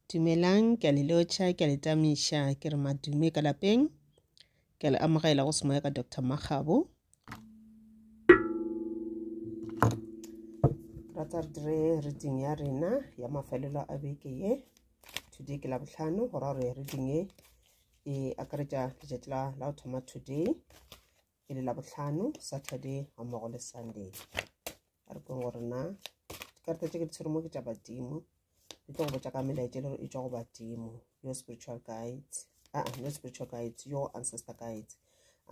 Dumelang, ke a le lotšha, ke a le tamiša, ke re madume ka lapeng. Ke a le amogela go semoya ka Doctor Makgabo. Rata re dire reading ya rena ya mafelelo a beke ye. Today ke la bohlano, go ra gore reading ye e akaretša letšatši la la go thoma today. ke le labohlano saturday ga mmogo le sunday a re kweng gore na dikarata tse ke di tshwere mo ke tša badimo di tlo go botša ka melaetša le gore e tswa go badimo your spiritual guides aa ah, your spiritual guides your ancestor guides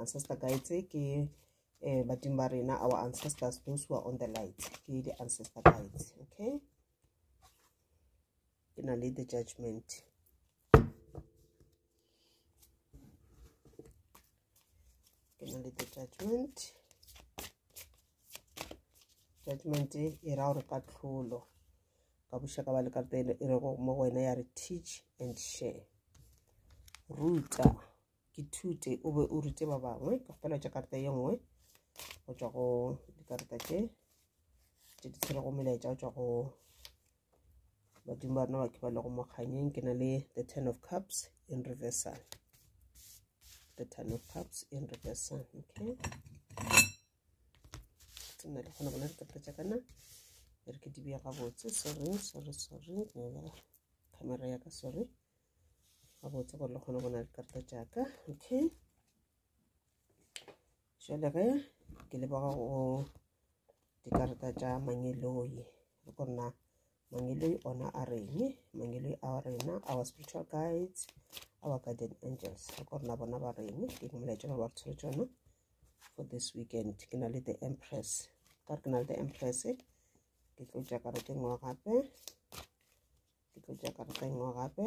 ancestor guides ke um badimo ba rena our ancestors those who are on the light ke di-ancestor guides okay ke na le the judgment ke na le the judgment judgment e ra gore katlholo ka bošaka ba le ka pelo e re go mo go wena ya re teach and share ruta ke thute o be o rute ba bangwe ka fela tša karata ye nngwe go tšwa go dikarata tše tše di tshwerego melaetša go tšwa go badimo ba rena ba ke ba le go mokganyeng ke na le the ten of cups in reversal the ten of cups in reversal okay tsena le gona bona dikata tša kana e re ke di bea gabotse sorry sorry sorry camera ya ka sorry gabotse gore le kgone bona dikarata tša ka okay jale ge ke leboga go dikarata tša mangeloi re kgona mangeloi ona a reng mangeloi a rena our spiritual guides our guardian angels re kgona bona ba reng ke molaetša ba ba re tshwere tsona for this weekend ke na le the empress ka re ke na le the empress ke tlo tša karata engwe gape ke tlo tša karata engwe gape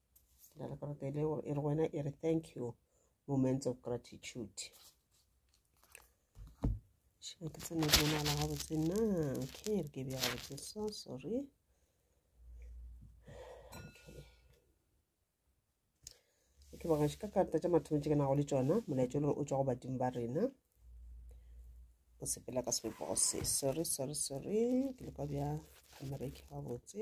la la karata e le gore e re wena e re thank you moments of gratitude shebe ke tsene ke bonala gabotse na okay re ke bja gabotse so sorry ke bona ka karata tša mathomo tše ke nago le tšona molaetso le gore o tswa go badimo ba rena o sepela ka sebopego se sorry sorry sorry ke le ka bja amerika gabotse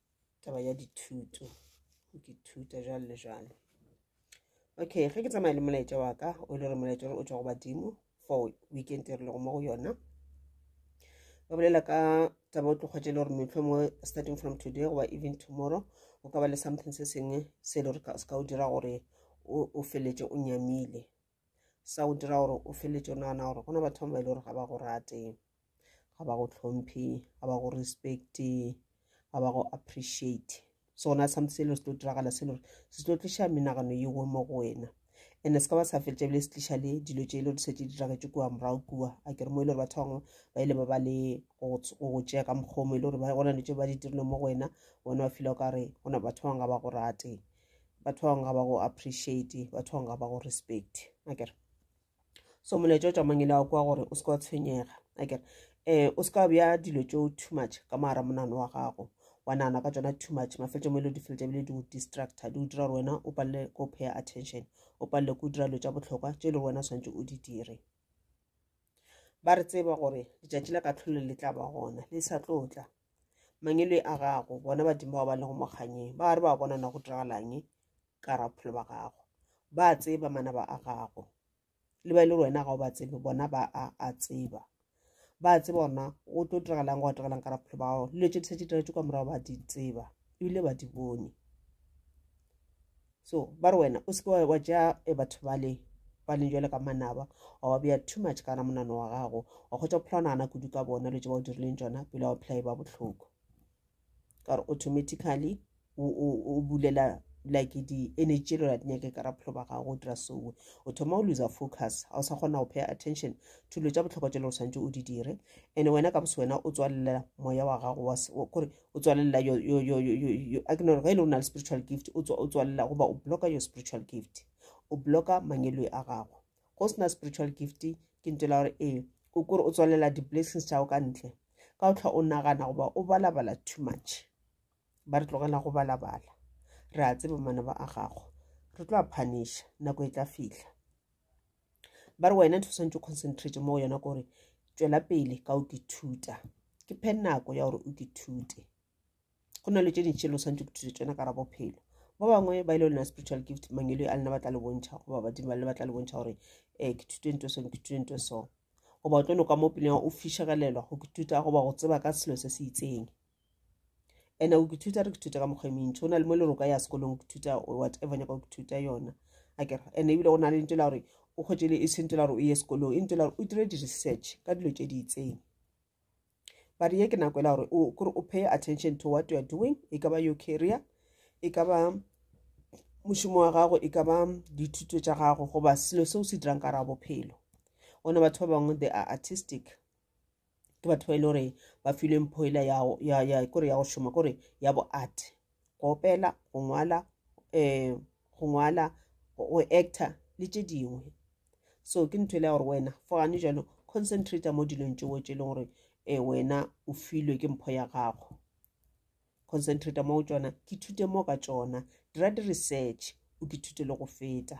taba ya dithuto go ke thuta jalo le jalo okay ge ke tsamaya le molaetša wa ka o le gore molaetša o tswa go badimo for weekend e re lego mo go yona ba bolela ka taba o tlokgwetsa e le gore metlho mo starting from today goba even tomorrow o ka ba le something se sengwe se e le gore se ka o dira gore o feletse o nyamile sa go dira gore o feletse o nagana gore go na batho ba e le gore ga ba go rate ga ba go tlhomphe ga ba go respecte ga ba go appreciate so gona something se e le se tlo diragala se le gore se tlo tliša menagano yeo mo go wena and-e se ka ba sa feletša ebile se tliša le dilo tše e le gore di setse di diragetse kua morago kua a kere mo e le gore batho bangwe ba ile ba ba le go go tšea ka mokgomo e le gore go na le tše ba di dirile mo go wena bona ba fila o ka re gona batho bangwe ga ba go rate batho ba bangwe ga ba go appreciate batho ba bangwe ga ba go respect akere so molaetša o tšamangele wa kwa gore o se ka wa tshwenyega akere um o se ka bja dilo tšeo too much ka moara monano wa gago wa nana ka tsona too much mafeletso mo e le di feletsa bile di go distractor di go dira gore wena o palele ko paya attention o palele ko dira dilo tša botlhokwa tše e le gore wena o tshwanetse o di dire ba re tseba gore letšatši la kahlolo le tla ba gona le sa tlo tla mangele a gago bona badimo ba ba lego mokganyeng ba re ba bona na go diragalang ka ra bophelo ba gago ba tseba manaba a gago le ba e le wena ga o ba tsebe bona ba a a tseba ba tseba ona o tlo diragalang go diragalang ka ra bophelo ba gago le tše di sa tše diretse ka morago ba di tseba ebile ba di bone so ba re wena o seke wa ja e batho bale ba leng jale ka manaba wa ba beya too much kana monano wa gago wa kgotsa phela nagana kudu ka bona le tse ba o dirileng tsona pele wa phela e ba botlhoko ka gore automatically o bulela like di-energy le la dinyake ka raphelo ba gago o dira soe o thoma o loser focus ga o sa kgona go pay attention thulo tsa botlhokwa tse le o tshwanetse o di dire and wena ka bose wena o tswalela moya wa gago kore o tswalela yo yo yo yo yo yo a ke no ge e le o na le spiritual gift o tswa o tswalela goba o bloka your spiritual gift o bloka mangeloi a gago go sena spiritual gift ke ntse la gore ee o kore o tswalela di-blessings tšago ka ntle ka o tlhwa o nagana goba o balabala too much ba re tlogela go balabala re a tseba manaba a gago re tlo a phanisha nako e tla fitlha ba re wena ntho swantse o concentrate mo yona ke gore tswela pele ka o kithuta ke phe nako ya gore o kithute go na le tse dintšhe lo swantse o kithute tsona ka ra bophelo ba bangwe ba ile lena spiritual gift mangelo a lena ba tla le bontšha goba badimo ba le ba tla le bontšha gore um ke thute nto so ke thute nto so goba o tlo noka mo peleng o fishegelelwa go kituta goba go tseba ka selo se se itseng ene o kethuta re kethuta ka mokgwa e mentšhi o na le mo le roka ya sekolong kethuta whatever nyaka o kethuta yona a kere ene ebile go na le ntho la gore o kgwetse le e se ntho la gore o ye sekolong e ntho la gore o dire di-research ka dilo tše di itseng but ye ke nako e la gore kore o pay attention to what you are doing e ka ba your career e ka ba mošomo wa gago e ka ba dithuto tša gago goba selo se o se dirang ka ra bophelo one batho ba bangwe they are artistic ke batho ba e le gore ba filwe mpho ela kore ya go šoma kore ya bo art go opela go ngwala um go ngwala go actor le tše dingwe so ke ntho e le ya gore wena for gane jalo concentrata mo dilong tšeo tše e leng gore um wena o filwe ke mpho ya gago concentrata mo go tšona ke thute mo ka tšona dira di-research o ke thute le go feta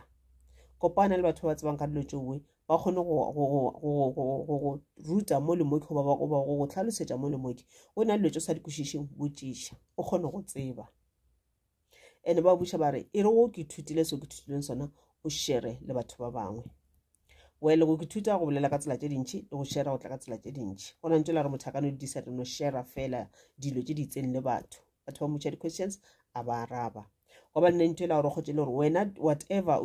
kopana le batho ba ba tsebang ka dilo tšoe ba kgone go ruta mo le moke goba go tlhalosetša mo le moke o na dilo tšo sa di kwešišeng botšiša o kgone go tseba ene ba buša ba re e re o ke ithutile seo ke thutileng sona o shere le batho ba bangwe wele go ke thuta go bolela ka tsela tše dintšhi le go shera go tla ka tsela tše dintšhi go na ntse la re motho a ka no di disa no shera fela dilo tše di itseng le batho batho ba motšha di-questions a ba araba goba nne ntho e la gore kgotse le gore wena whatever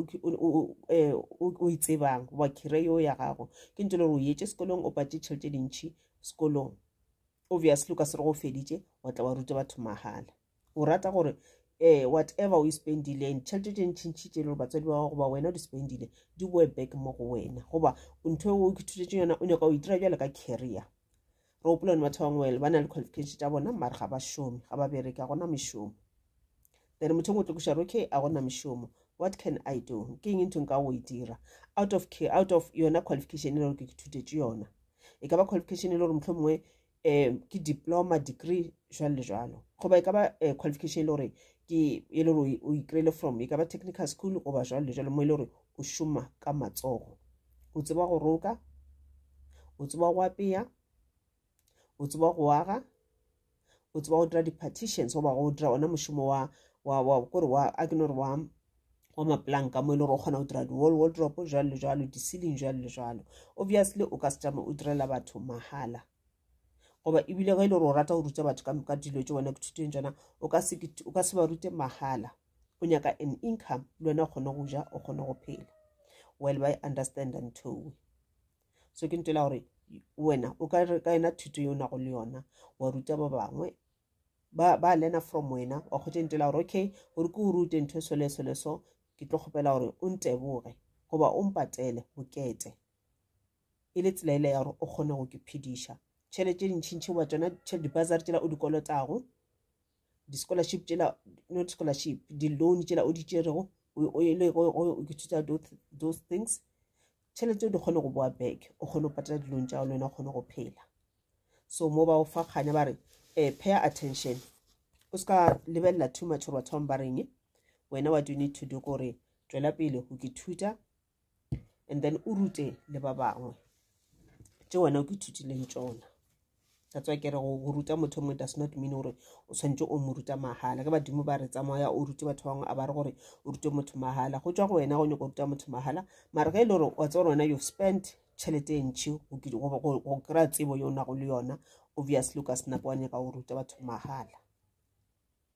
eh, o e tsebang goba kire yo ya gago ke ntho e le gore o etse sekolong o patše tšhelete dintšhi sekolong obviously o ka se re go feditše wa tla wa ruta batho mahala o rata gore eh whatever o e spendileng tšhelete tše ntšhintšhi tše e le gore batswadi ba gago goba wena o di spendile di boe back mo go wena goba ntho eo o ithutetse yona o nyaka o e dira bjale ka carrier re gopola ne batho bangwe ba na le qualification tša bona mare ga ba šome ga ba bereke ga gona mešomo then motho engwe o tlokiša re okay a gona mešomo what can i do ke eng ntho nka go e dira out of care out of yona qualification e le gore ke ke thutetše yona e ka ba qualification e le gore motlho mongwe um ke diploma degree jwalo le jwalo goba e ka ba um qualification e le gore ke e le gore o ikry-ile from e ka ba technical school goba jwalo le jwalo mo e le gore o šoma ka matsogo o tseba go roka o tseba go apeya o tseba go aga o tseba go dira di-partitions goba go dira ona mošomo wa wa wa kore wa a ke no re wa wa maplanka mo e le gore o kgona go dira di-wall wardrope jalo le jalo di-sealing jalo le jalo obviously o ka se tšama o direla batho mahala goba ebile ge e le gore o rata go ruta batho ka dilo tse wena kuthuteng tsona o ka se ba rute mahala o nyaka an income le wena o kgone go ja o kgone go phela well by understand and towe so ke ntela gore wena o ka re ka yona thuto ye o nago le yona wa ruta ba bangwe ba ba learner from wena wa kgotse ntela gore okay gore ke o rute ntho eso le eso le so ke tlo kgopela gore o nteboge goba o mpatele bokete e le tsela ele ya gore o kgone go ke phediša tšhelete e ntšhintšhi goba tsona dibasary tsela o di kolotago di-scholarship tsela not scholarship di-loan tsela o di tšerego o ile go ithuta those things tšhelete o di kgone go boa back o kgone go patela dilong tša le wena o kgone go phela so mo ba o fa kganya ba re um pay attention o se ka lebelela too much gore batho bangwe ba reng wena what you need to do kore tswela pele go ke thuta and then o rute le ba bangwe tse wena o ke thutileng tsona that's why ke re go ruta motho mongwe does not mean gore o tshwanetse o mo ruta mahala ke badimo ba re tsamaya o rute batho bangwe a ba re gore o rute motho mahala go tswa go wena go nyako go ruta motho mahala mare ge e le gore wa tse gore wena you've spent tšhelete e ntšhi go kry-a tsebo yo nago le yona obviously o ka sena kwa nyaka go ruta batho mahala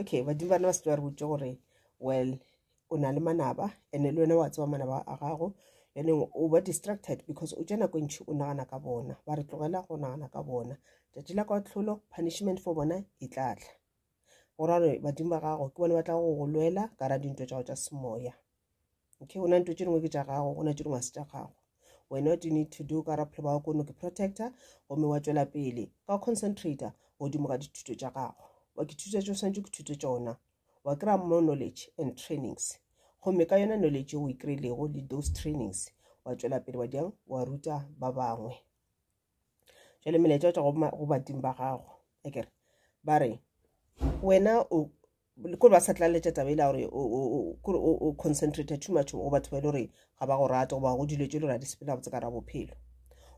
okay badimo bana ba se ba re botse gore well o na le manaba and-e le wena wa tseba manaba a gago and o ba distracted because o tsena ko ntšhi o nagana ka bona ba re tlogela go nagana ka bona tšatši la kwa tlholo punishment for bona e tla tla go ra gore badimo ba gago ke bone ba tla go go lwela ka ra dintho tša go tša semoya okay go na nto tše dingwe ke tša gago go na tše dingwe se tša gago wena what you need to do ka raphelo ba wa kono ke protector gomme wa tšwela pele ka concentrator godimo ga dithuto tša gago wa ke thuto tšeo swantse ke thuto tšona wa kry-a more knowledge and trainings gomme ka yona knowledge o e kry-ilego le those trainings wa tšwela pele wa diang wa ruta ba bangwe jale melaetša tša go badimo ba gago akere ba re wena o kore ba sa tlaletša taba e la gore kore o concentrate too much go batho ba e le gore ga ba go rate goba go dilo tse e le gore a di sepela botse ka ra bophelo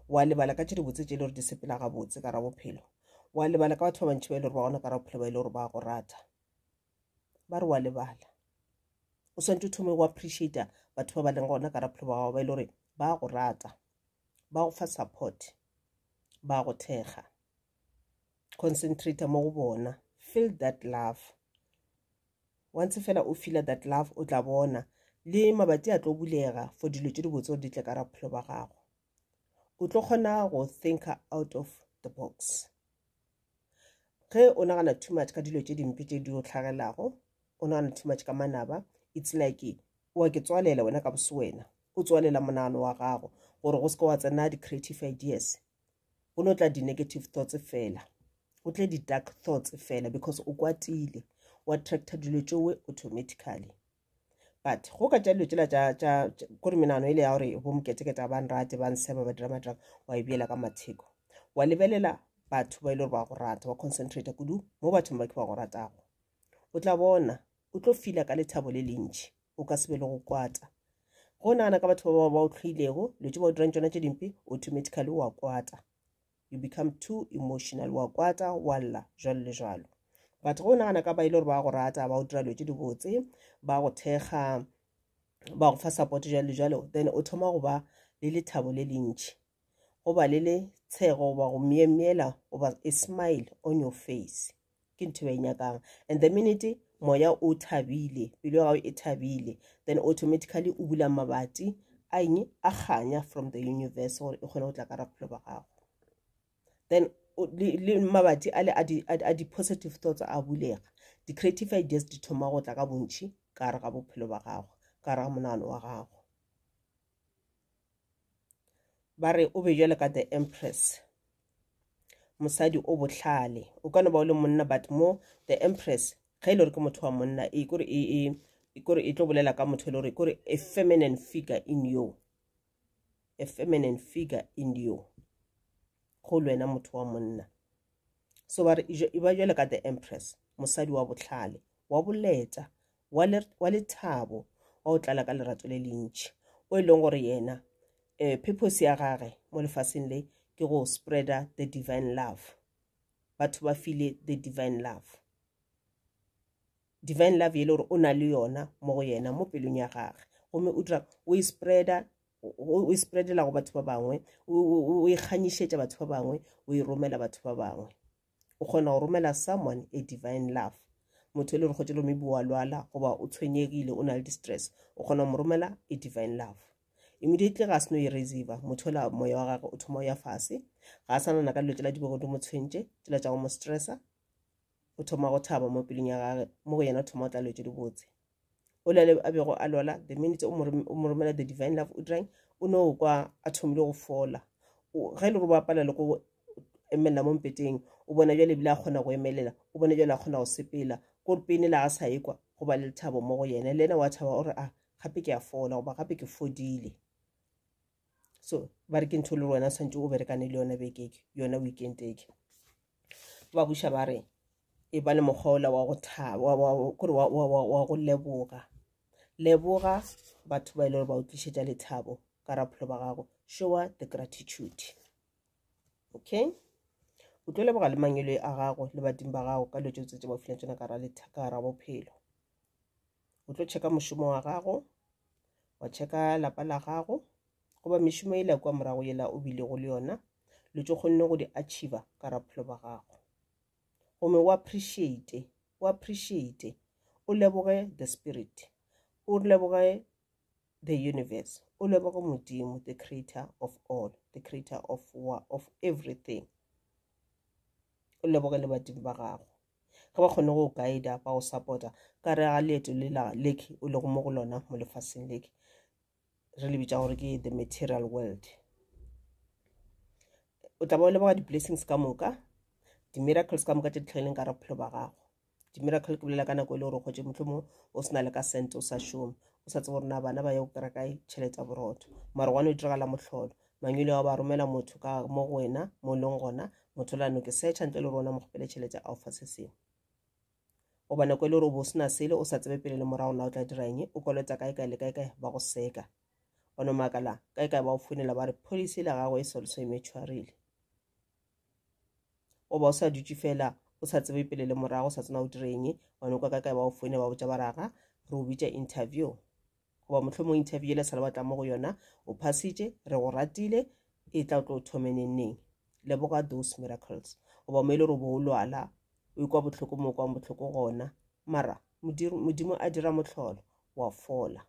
wa lebala ka tse di botse tse e le gore di sepela ga botse ka ra bophelo wa lebala ka batho ba bantšhi ba e le gore ba gona ka ra bophelo ba e le gore ba go rata ba re wa lebala o swantse o thome go appreciata batho ba ba leng gona ka ra bophelo ba gago ba e le gore ba go rata ba go fa support ba go thekga concentrate mo go bona feel that love once fela o feel that love o tla bona le mabati a tlo bulega for dilo tse di botse gore di tle ka ra bophelo ba gago o tlo kgona go think out of the box ge o nagana too much ka dilo tse dimpe tse di o tlhagelago o nagana too much ka manaba it's like wa ke tswalela wena ka bose wena o tswalela monagano wa gago gore go se ke wa tsena di-creative ideas go no tla di-negative thoughts fela go tle di-dark thoughts fela because o kwatile o attracta dilo tšowe automatically but go ka tša dilo tsela tša kore menano e le ya gore bo moketeketa ba nrate ba nseba ba dira madrang wa e beela ka matheko wa lebelela batho ba e le gore ba go rata wa concentrata kudu mo bathong ba ke ba go ratago o tla bona o tlo fila ka lethabo le lentšhi o ka se be le go kwata go nagana ka batho ba ba o tlhoilego dilo tse ba o dirang tsona tse dimpe automatically wa kwata you become too emotional wa kwata wa lla jalo le jalo but go nagana ka ba ile gore ba go rata ba o dira dilo tse dibotse ba go thekga ba go fa support jalo le jalo then o thoma go ba le lethabo le lentšhi go ba le letshego goba go myemyela goba a smile on your face ke ntho e nyakang and the minute moya o thabile pelo ya gago e thabile then automatically o bula mabati a eng a kganya from the universe gore e kgone go tla ka ra bophelo ba gago then le mabati a le a di-positive thoughts a bulega di-creative ideas di thoma go tla ka bontšhi ka gare ga bophelo ba gago ka gare ga monagano wa gago ba re o be jwale ka the empress mosadi o bohlale o ka no ba o le monna but mo the empress ge e le gore ke motho wa monna e kore e, e, e kore e tlo bolela ka motho e le gore e kore a feminine figure in you a feminine figure in you go le wena motho wa monna so ba re e ba jwale ka the empress mosadi wa bohlale wa boleta wa, le, wa lethabo wa go tlala ka lerato le lentši o e leng gore yena eh, purpose ya gage mo lefaseng le ke go spreader the divine love batho ba file the divine love divine love e le gore o na le yona mo go yena mo pelong ya gage gomme o dira o e spreader o e spreadela go batho ba bangwe o e kganyišetša batho ba bangwe o e romela batho ba bangwe o kgona go romela someone a divine love motho e le re kgotse lo maybe wa lwala goba o tshwenyegile o na le distress o kgona go mo romela a divine love immediately ga a seno e receive motho ola moya wa gagwe o thoma o ya fase ga a sanana ka dilo tsela di bego di mo tshwentše tsela tša go mo stressa o thoma go thaba mo pelong ya gage mo go yena o thoma o tla lwetse dibotse o le a bego a lwala the minute o mo romela the divine love udrang o ne o kwa a thomile go fola ge e le gore ba pala le go emelela mo mpeteng o bona jale ebile a kgona go emelela o bona jale a kgona go sepela kore pene le a sa ekwa go ba le lethabo mo go yena le ena wa thaba o re a ah, gape ke a fola goba gape ke fodile so ba re ke ntho le wena tshwanetse o berekane le yona bekeke yona weekend eke ba buša ba re e ba le mokgwa ola wa go thakore wa go leboga leboga batho ba e le gore ba o tlišetša lethabo ka rapholo ba gago showa the gratitude okay o tlo leboga le mangelo a gago le badimo ba gago ka dilo tse tse ba fileng tsona ka ra bophelo o tlo checka mošomo wa gago wa checka lapa la gago goba mešomo e la kwa morago yela o bilego le yona lo tso kgonne go di achieva ka rapholo ba gago gomme o appreciate o appreciate o leboge the spirit o leboge the universe o leboge modimo the creator of all the creator of, of everything o leboge le badimo ba gago Ge ba kgone go guida ba go support ka re ga leeto le la lake o lego mo go lona mo lefaseng lake re le bitsa gore ke the material world o tla ba o leboga di-blessings ka moka di-miracles ka moka tse di tlhageleng ka re bophelo ba gago di-miracle ke bolela ka nako e le gore o kgotse motlhomo o sena le ka sente o sa šome o sa tsebo gore na bana ba ye go kry-a kae tšhelete ya borotho mara gwane o diragala motlholo Mangile wa ba romela motho ka mo go wena mo leng gona motho la noke secha ntle le rona mo kgopele tšhelete a o fa se sengwe o bona ko le gore o bo sena sele o sa tsebe pele le morago na o tla dira eng o kolota kae kae le kae kae ba go seka o no makala kae kae ba o founela ba re policy la gago e solso e metshwarile o ba o sa dutše fela o sa tsebe pele le morago o sa tsena o dire eng wa nokwa kae kae ba o foune ba botša ba raga re o bitša interview goba mohlomong interview yela sala batla mo go yona o phasitše re go ratile e tla o tlo o thome nengneng leboga those miracles goba mo e le gore o bo o lwala o ikwa bohloko mo o kwang bohloko gona mara modimo a dira motlholo wa fola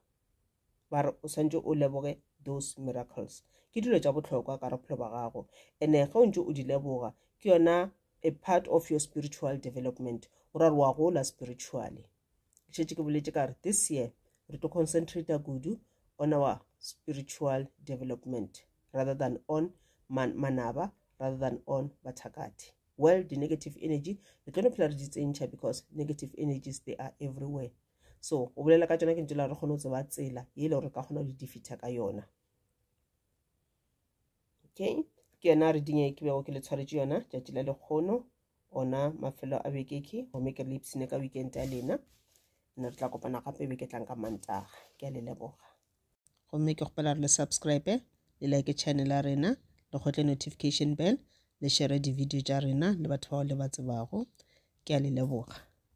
ba re o swantse o leboge those miracles ke dilo tša bohlokwa ka bophelo ba gago ene ge o ntse o di leboga ke yona a part of your spiritual development o ra re wa gola spiritually šetše ke boletše ka re this year re tlo concentrata kudu on our spiritual development rather than on man manaba rather than on bathakati well di-negative energy re tlo no phela re di tsentšha because negative energies they are everywhere so o bolela ka tsona ke ntse la re kgone go tseba tsela e le gore ka kgona go di defeater ka yona okay ke yona reading e ke bego ke le tshwaretše yona tšatši la lekgono ona mafelo a bekeke gomme ke re le ipsene ka weekend ya lena nna re tla kopana gape beke tlang ka mantaga ke a le leboga gomme ke kgopela re le subscribe le like channel ya rena le kgotle notification bell le share di-video tša rena le batho bao le ba tsebago ke a le leboga